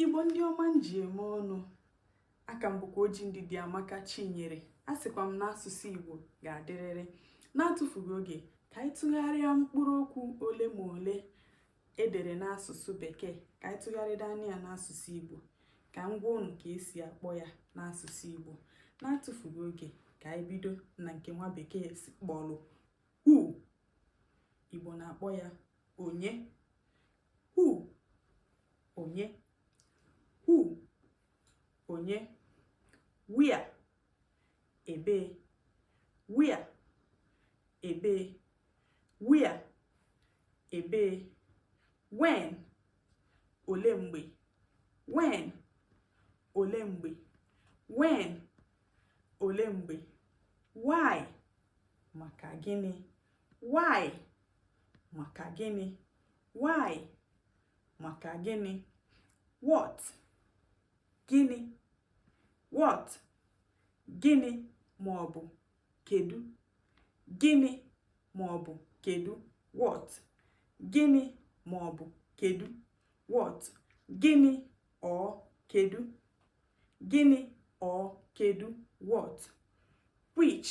igbo ndị ọma m ji eme ọnụ aha m bụkwa oji ndịdịamaka chinyere a sịkwa m na asụsụ igbo ga-adịrịrị na-atụfughị oge ka anyị tụgharịa mkpụrụ okwu ole ma ole e dere n'asụsụ bekee ka anyị tụgharịda anya ya n'asụsụ igbo ka m gwa unu ka e si akpọ ya n'asụsụ igbo na-atụfughị oge ka anyị bido na nke nwa bekee kpọrọ who igbo na-akpọ ya onye Who? Onye. Who? Onye. Where? Ebee. Where? Ebee. Where? Ebee. When? Olee mgbe. When? Olee mgbe. When? Olee mgbe. Why? Maka gịnị? why maka gịnị why maka gịnị what gịnị what gịnị ma ọ bụ kedu gịnị ma ọ bụ kedu what gịnị ma ọ bụ kedu what gịnị or kedu gịnị or kedu what which